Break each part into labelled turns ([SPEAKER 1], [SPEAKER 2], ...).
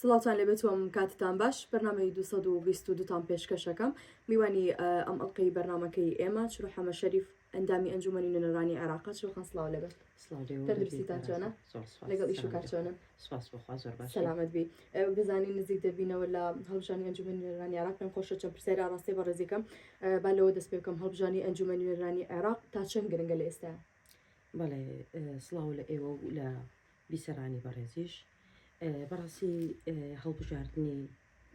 [SPEAKER 1] سڵاوتان لێبێت و کاتتان باش بەرنمەی 222 تان پێشکەشەکەم میوانی ئەم ئەڵلقەی بەرنمەکەی ئێمە چرو حەمە شەریف ئەندامی ئەنجومنی نوێنەرانی عێراقا چۆخان سلااو لەبێت تەندروستیتانچۆنە لەگەڵ ئیش و کارچۆنە سەلامەت بی بزانین نزیک دەبینەوە لە هەڵژانی ئەنجومنی نوێنەرانی عێراق پێم خۆشە چەند پرسیاری ئاڕاستی بە ڕێزیکەم با لەوە دەست پێکەم هەڵبژانی ئەنجومە نوێنەرانی عێراق تا چەند گرنگە لە ئێستا بەڵێ
[SPEAKER 2] سلااو لە ئێوە و لە بیسەرانی بەڕێزیش بەڕاستی هەڵبژاردنی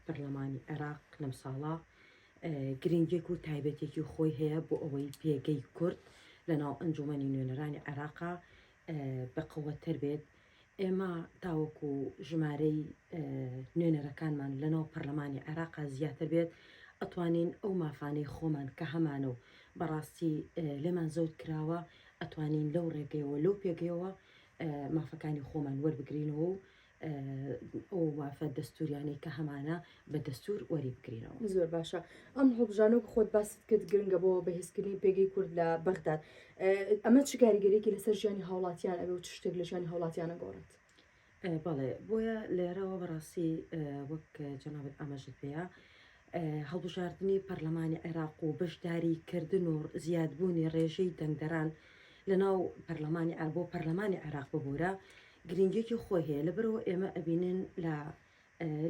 [SPEAKER 2] پەرلەمانی عێراق لەم ساڵە گرنگێک و تایبەتێکی خۆی هەیە بۆ ئەوەی پێگەی کورد لە ناو ئەنجومەنی نوێنەرانی عێراقا بەقوەتەر بێت ئێمە تاوەکو ژمارەی نوێنەرەکانمان لە ناو پەرلەمانی عێراقا زیاتر بێت ئەتوانین ئەو مافانەی خۆمان کە هەمانە و بەڕاستی لێمان زەوت کراوە ئەتوانین لەو ڕێگەیەوە لەو پێگەیەوە مافەکانی خۆمان وەربگرینەوە و ئەو مافە دەستوریانەی کە هەمانە بە دەستور وەری بگرینەوە زۆر باشە
[SPEAKER 1] ئەم هەڵبژانە خۆت باست کرد گرنگە بۆ بەهێزکردنی پێگەی کورد لە بەغداد ئەمە چ کاریگەرێکی لەسەر ژیانی هاوڵاتیان ئەوێ و چ شتێک لە ژیانی هاوڵاتیانە گۆڕێت بەڵێ
[SPEAKER 2] بۆیە لێرەوە بەڕاستی وەک جەنابەت ئاماژت پێەیە هەڵبژاردنی پەرلەمانی عێراق و بەشداریکردن و زیادبوونی ڕێژەی دەنگدەران لەناو پەرلەمانی عێراق بۆ پەرلەمانی عێراق ببوورە گرینگیەکی خۆی هەیە لەبەرەوە ئێمە ئەبینن لە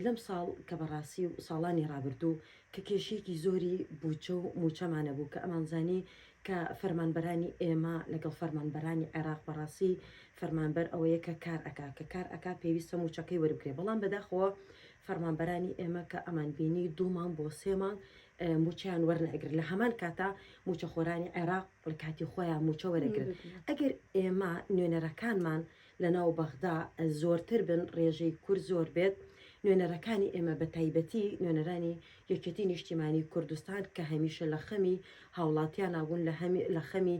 [SPEAKER 2] لەم ساڵ کە بەڕاستی و ساڵانی ڕابردوو کە کێشێکی زۆری بودجە و موچەمانە بوو کە ئەمانزانی کە فەرمانبەرانی ئێمە لەگەڵ فەرمانبەرانی عێراق بەڕاستی فەرمانبەر ئەوەیە کە کار ئەکا کە کار ئەکا پێویستە موچەکەی وەربگرێ بەڵام بەداخەوە فەرمانبەرانی ئێمە کە ئەمانبینی دوو مانگ بۆ سێ مانگ مووچەیان وەرناگرن، لە هەمان کاتا مووچەخۆرانی عێراق لە کاتی خۆیان مووچە وەرەگرن. ئەگەر ئێمە نوێنەرەکانمان لەناو بەغدا زۆرتر بن، رێژەی کورد زۆر بێت، نوێنەرەکانی ئێمە بەتایبەتی نوێنەرانی یەکێتی نیشتیمانی کوردستان کە هەمیشە لە خەمی هاوڵاتیانا بوون، لە خەمی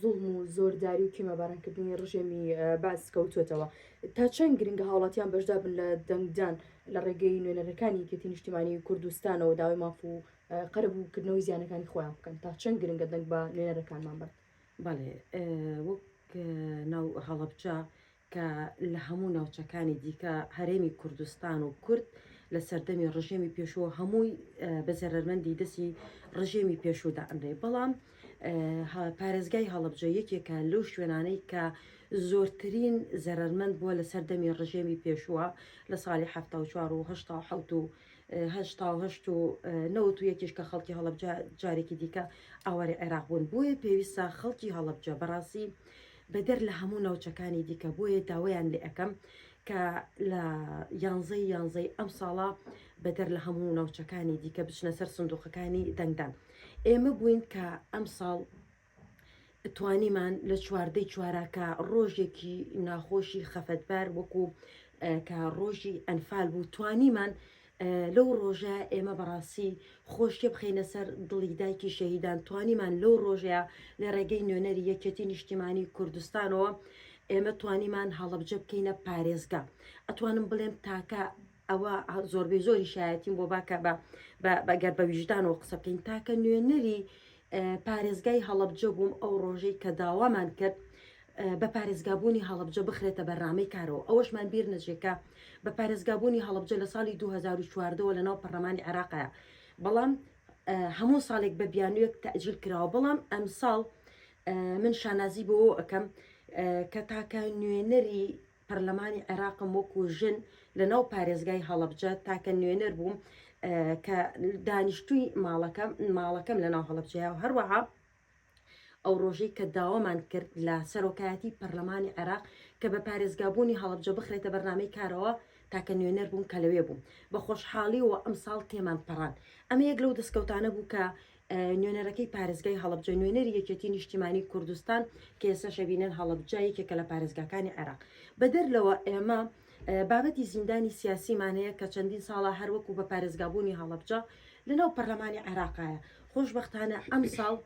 [SPEAKER 1] زوڵم و زۆرداری و کێمە بارانکردنی ڕژێمی بەعس کەوتوەتەوە تا چەند گرنگە هاوڵاتیان بەشدا بن لە دەنگدان لە ڕێگەی نوێنەرەکانی یەکێتی نیشتیمانی کوردستانەوە داوای ماف و قەرەبووکردنەوەی زیانەکانی خۆیان بکەن تا چەند گرنگە دەنگ بە نوێنەرەکانمان بن بەڵێ
[SPEAKER 2] وەک ناو هەڵەبجە کە لە هەموو ناوچەکانی دیکە هەرێمی کوردستان و کورد لە سەردەمی ڕژێمی پێشووە هەمووی بە زەرەرمەندی دەستی ڕژێمی پێشوودا ئەنرێ بەڵام پارێزگای هەڵبجە یەکێکە لەو شوێنانەی کە زۆرترین زەرەرمەند بووە لە سەردەمی ڕژێمی پێشووە لە ساڵی ه و و نەوت و یەکیش کە خەڵکی هەڵبجە جارێکی دیکە ئاواری عێراق بوون بۆیە پێویستە خەڵکی هەڵبجە بەڕاستی بەدەر لە هەموو ناوچەکانی دیکە بۆیە داوایان لێ ئەکەم کە لە یانزەی یانزەی ئەمساڵە بەدەر لە هەموو ناوچەکانی دیکە بچنە سەر سندوقەکانی دەنگدان ئێمە بووین کە ئەمساڵ توانیمان لە چواردەی چواراکە ڕۆژێکی ناخۆشی خەفەتبار وەکو کە ڕۆژی ئەنفال بوو توانیمان لەو ڕۆژە ئێمە بەڕاستی خۆشیە بخینە سەر دڵی دایکی شەهیدان توانیمان لەو ڕۆژەیە لە ڕێگەی نوێنەری یەکێتی نیشتیمانی کوردستانەوە ئێمە توانیمان هەڵبجە بکەینە پارێزگا ئەتوانم بڵێم تاکە ئەوە زۆربەی زۆری شایەتیم بۆ باکە بە بەگەر بە ویژدانەوە قسە بکەین تاکە نوێنەری پارێزگای هەڵەبجە بووم ئەو ڕۆژەی کە داوامان کرد بە پارێزگابوونی هەڵەبجە بخرێتە بەرنامەی کارەوە ئەوەشمان بیر نەچێکە بە پارێزگابوونی هەڵەبجە لە ساڵی 2014ەوە لەناو پەرلەمانی عێراقەیە بەڵام هەموو ساڵێک بە بیانوێک تەجیل کراوە بەڵام ئەم ساڵ من شانازی بۆ ئەەکەم کە تاکە نوێنەری پەرلەمانی عێراقم وەکو ژن لە ناو پارێزگای هەڵەبجە تاکە نوێنەر بووم کە دانیشتووی ماڵەکەم ماڵەکەم لە ناو هەڵەبجەیە و هەروەها ئەو ڕۆژەی کە داوامان کرد لە سەرۆکایەتی پەرلەمانی عێراق کە بە پارێزگابوونی هەڵبجە بخرێتە بەرنمەی کارەوە تاکە نوێنەر بووم کە لەوێ بووم بە خۆشحاڵیەوە ئەم ساڵ تێمان پەڕان ئەمە یەک لەو دەستکەوتانە بوو کە نوێنەرەکەی پارێزگای هەڵەبجە، نوێنەری یەکێتی نیشتیمانی کوردستان کە ئێستا شەبینەن هەڵەبجە یەکێکە لە پارێزگاکانی عێراق. بەدەر لەوە ئێمە بابەتی زیندانی سیاسیمان هەیە کە چەندین ساڵە هەر وەکو بە پارێزگابوونی هەڵەبجە لەناو پەرلەمانی عێراقایە، خۆشبەختانە ئەمساڵ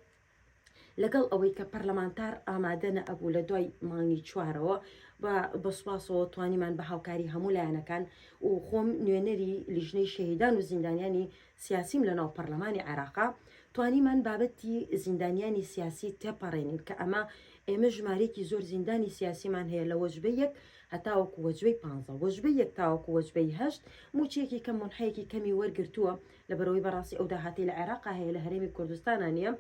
[SPEAKER 2] لەگەڵ ئەوەی کە پەرلەمانتار ئامادە نەئەبوو لە دوای مانگی چوارەوە و بە سوپاسەوە توانیمان بە هاوکاری هەموو لایەنەکان و خۆم نوێنەری لیژنەی شەهیدان و زیندانیانی سیاسیم لەناو پەڕلەمانی عێراقە، توانیمان بابەتی زیندانیانی سیاسی تێپەڕێنین کە ئەمە ئێمە ژمارەیەکی زۆر زیندانی سیاسیمان هەیە لە وەجبەی یەک هەتاوەکو وەجبەی پانزە، وەجبەی یەک تاوەکو وەجبەی هەشت مووچەیەکی کەم مونحەیەکی کەمی وەرگرتووە لەبەرئەوەی بەڕاستی ئەو داهاتەی لە عێراقا هەیە لە هەرێمی کوردستانا نییە،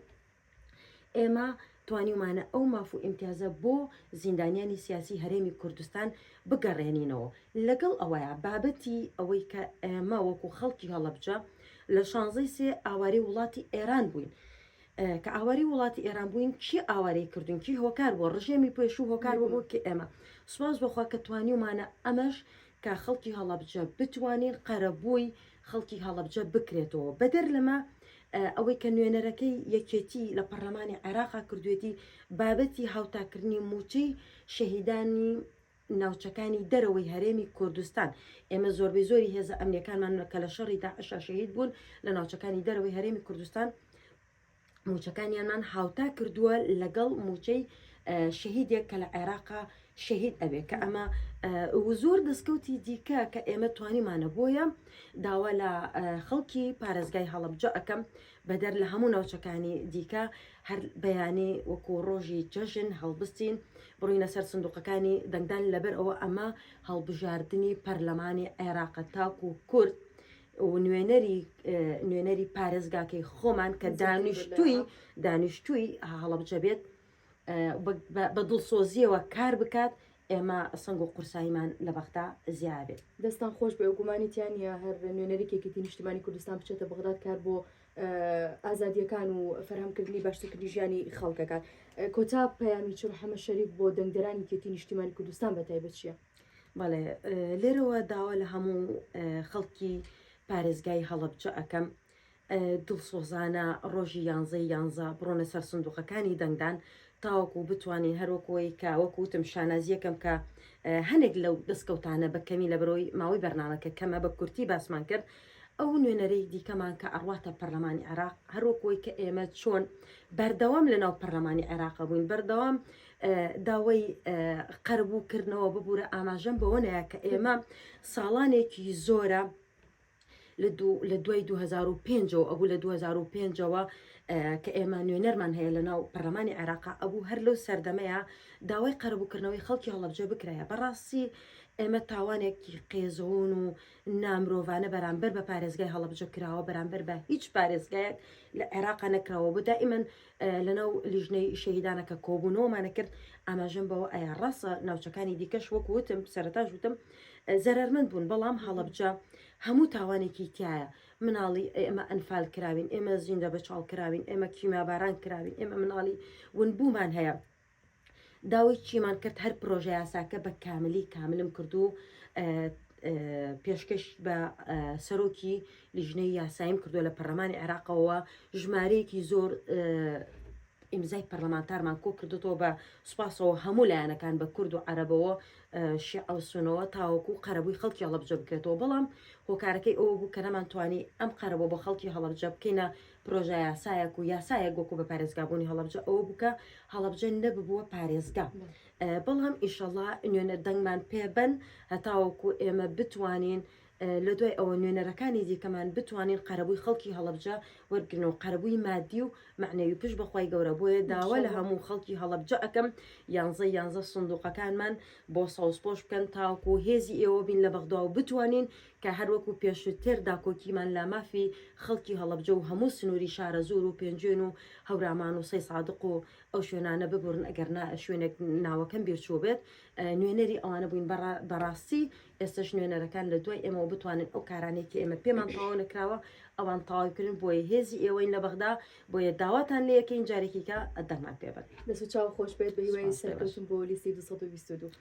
[SPEAKER 2] ئێمە توانیومانە ئەو ماف و ئیمتیازە بۆ زیندانیانی سیاسی هەرێمی کوردستان بگەڕێنینەوە، لەگەڵ ئەوەیا بابەتی ئەوەی کە ئێمە وەکو خەڵکی هەڵەبجە لە شانزە ی سێ ئاوارەی وڵاتی ئێران بووین، کە ئاوارەی وڵاتی ئێران بووین کێ ئاوارەی کردوون کێ هۆکار بووە، ڕژێمی پێشوو هۆکار بووە بۆ کێ ئێمە سوپاس بۆ خوا کە توانیومانە ئەمەش کە خەڵکی هەڵەبجە بتوانین قەرەبووی خەڵکی هەڵەبجە بکرێتەوە بەدەر لەمە ئەوەی کە نوێنەرەکەی یەکێتی لە پەرلەمانی عێراقا کردوێتی بابەتی هاوتاکردنی موچەی شەهیدانی ناوچەکانی دەرەوەی هەرێمی کوردستان ئێمە زۆربەی زۆری هێزە ئەمنیەکانمان کە لە شەڕی داعشا شەهید بوون لە ناوچەکانی دەرەوەی هەرێمی کوردستان موچەکانیانمان هاوتا کردووە لەگەڵ موچەی شەهیدێک کە لە عێراقا شەهید ئەوێ کە ئەمە زۆر دەستکەوتی دیکە کە ئێمە توانیمانە بۆیە داوا لە خەڵکی پارێزگای هەڵبجە ئەەکەم بەدەر لە هەموو ناوچەکانی دیکە هەر بەیانی وەکو ڕۆژی جەژن هەڵبستین بڕینە سەر سندوقەکانی دەنگدان لەبەر ئەوە ئەمە هەڵبژاردننی پەرلەمانی عێراقە تاکو کورد و نوێنەری نوێنەری پارێزگاکەی خۆمان کە دانیشتووی دانیشتووی هەڵەبجە بێت بە دڵسۆزیەوە کار بکات ئێمە سنگ و قورساییمان لە بەغدا زیابێت دەستان خۆش بێ
[SPEAKER 1] گومانی تیانە هەر نوێنەرێکێکی نیشتمانی کوردستان بچێتە بەغداد کار بۆ ئازادیەکان و فەرهەمکردنی باشترکردنی ژیانی خەڵکەکان کۆتا پەیامی چڕ حەمە شەریف بۆ دەنگدەرانی کێتی نیشتیمانی کوردستان بە تایبەت چیە بەڵێ
[SPEAKER 2] لێرەوە داوا لە هەموو خەڵکی پارێزگای هەڵەبجە ئەەکەم دڵسۆزانە ڕۆژی یانزە یانزە بڕۆنە سەر سندوقەکانی دەنگدان تاوەکو بتوانین هەروەکەوەی کە وەکوتم شانازیەکەم کە هەنێک لەو دەستکەوتانە بە کەمی لە برۆی ماوەی بەرنمەکە کەمە بە کورتی باسمان کرد ئەو نوێنەرەی دیکەمان کە ئەڕاتە پەرلەمانی عراق هەروەکەوەی کە ئێمە چۆن بەردەوام لە ناو پەرلەمانی عێراق بووین بەردەوام داوای قەرەبوو کردنەوە ببوورە ئاماژەم بەوە نایە کە ئێمە ساڵانێکی زۆرە لە دوای 2005ەوە ئەبوو لە 2005ەوە کە ئێمە نوێنەرمان هەیە لە ناو پەرلەمانی عێراق ئەبوو هەر لەو سەردەمەیە داوای قەرەبووکردنەوەی خەڵکی هەڵبجە بکرایە بەڕاستی ئێمە تاوانێکی قێزەون و نامرۆڤانە بەرامبەر بە پارێزگای هەڵبجە کراوە بەرامبەر بە هیچ پارێزگایەک لە عێراق نەکراوە بە دائیمەن لەناو لیژنەی شەهیدانە کە کۆبوونەوەمانە کرد ئاماژەم بەوە ئایا ڕاستە ناوچەکانی دیکەش وەک وتم سەرتاش وتم زەرەرمەند بوون بەڵام هەڵەبجە هەموو تاوانێکی تایە مناڵی ئێمە ئەنفال کراوین ئێمە زیندە بە چاڵ کراوین ئێمە کیماباران کراوین ئێمە مناڵی ونبوومان هەیە داوای چیمان کرد هەر پرۆژە یاساکە بە کاملی کاملم کرد و پێشکەش بە سەرۆکی لیژنەی یاساییم کردو لە پەرلەمانی عێراقەوە ژمارەیەکی زۆر ئیمزای پەرلەمانتارمان کۆ کردوەوە بە سوپاسەوە هەموو لایەنەکان بە کورد و عەرەبەوە شیعە و سونەوە تاوەکو قەرەبووی خەڵکی هەڵەبجە بکرێتەوە بەڵام هۆکارەکەی ئەوە بوو کە نەمان توانی ئەم قەرەبوو بە خەڵکی هەڵەبجە بکەینە پرۆژەیاسایەک و یاسایەک وەکو بە پارێزگابوونی هەڵەبجە ئەوە بووکە هەڵەبجە نەببووە پارێزگا بەڵام ئیشەڵا نوێنە دەنگمان پێبەن هەتاوەکو ئێمە بتوانین لە دوای ئەوە نوێنەرەکانی دیکەمان بتوانین قەرەبووی خەڵکی هەڵبجە وەرگن و قەرەبووی مادی و معنەوی پش بەخوای گەورە بۆیە داوا لە هەموو خەڵکی هەڵبجە ئەەکەم یانزە یانزە سندوقەکانمان بۆ سەوزپۆش بکەن تاوکو هێزی ئێوە بین لە بەغدا و بتوانین کە هەر وەکو پێشوتر داکۆکیمان لە مافی خەڵکی هەڵەبجە و هەموو سنووری شارەزوور و پێنجوێن و هەورامان و سەیسادق و ئەو شوێنانە ببورن ئەگەر نا شوێنێک ناوەکەم بیرچووبێت نوێنەری ئەوانە بووین بەڕاستی ئێستەش نوێنەرەکان لە دوای ئێمەوە بتوانن ئەو کارانەی کە ئێمە پێمان تەواو نەکراوە ئەوان تەواو بکرن بۆیە هێزی ئێوەین لە بەغدا بۆیە داواتان لە یەکەین جارێکیکە دەنگمان پێبن دەست و چاو خۆش بێت
[SPEAKER 1] بە هیوای سەرکەوتن بۆ لیستی 222